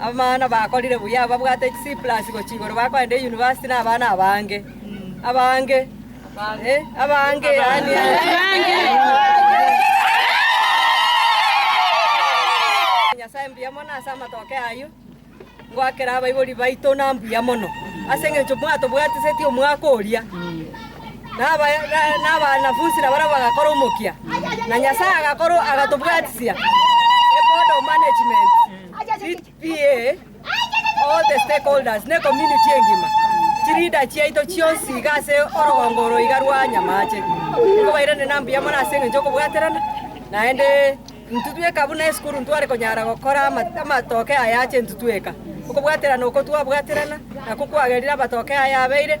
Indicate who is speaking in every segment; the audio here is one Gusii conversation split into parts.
Speaker 1: Abamama nabakorire buya, ababwate chi C+ gochia igoro bakoenda University nabana abange. Abange, eh, abange yaani Nyasae mbuya mono ase amatoke ayio, ngoakera abaibori baito na mbuya mono, ase engencho mwatobwatisetie omwaka oria. nabanafunsi nabarabwo bagakora omokia, na Nyasae agatobwatisia ebondo management, CPA, all the stakeholders, na ecommunity engima. Chileader chiaito chionsi iga ase orogongo oro iga rwa Nyamache, nigo bairane na mbuya mono ase engencho y'okobwaterana, naende intwe tweka buna esukuru ntware konyara gokora amatoke aya ache intwe tweka. Okobwaterana oko twabwaterana, nakwo kwagerire amatoke aya abeire.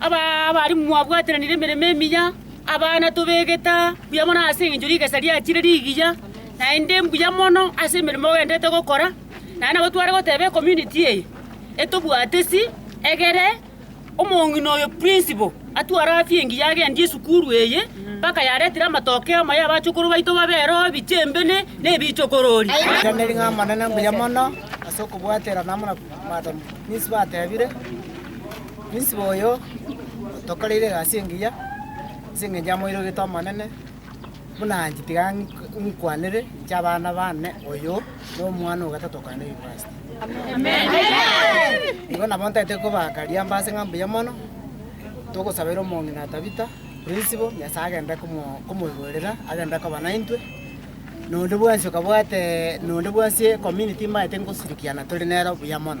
Speaker 1: Abarimu mwabwataranire emeremo emiya, abana tobegete buya mono ase engencho rigesa riachire rigiya, naende mbuya mono ase emeremo ogenderete gokora, naende nabo tware goteba ecommunity eye etobwatesi egere omong'ina oyo principal atware afya engiya agendie esukuru eye mpaka yaretire amatokeo amaya abachukuru baito babe ero ebiche mbene na ebichokorori. Ritang'ani ng'a Amanene mbuya mono ase okobwaterana amo na Madam Principal atebire. Omisibe oyo otokoreire egasi engiya ase engencho amoirogete Omonene, buna inche tiga nkwanere, inche abana bane, oyo nomwana ogotato o Korende Yunivasiti. Igo nabo ntagete kobaka riamba ase ng'a mbuya mono, togosabeire omong'ina Tabitha, principal, Nyasaye agende komo komoigorera, agende koba naintwe, nonde bwensi okabwate nonde bwensi ecommunity mbaete ngosirikiana tore nere buya mono.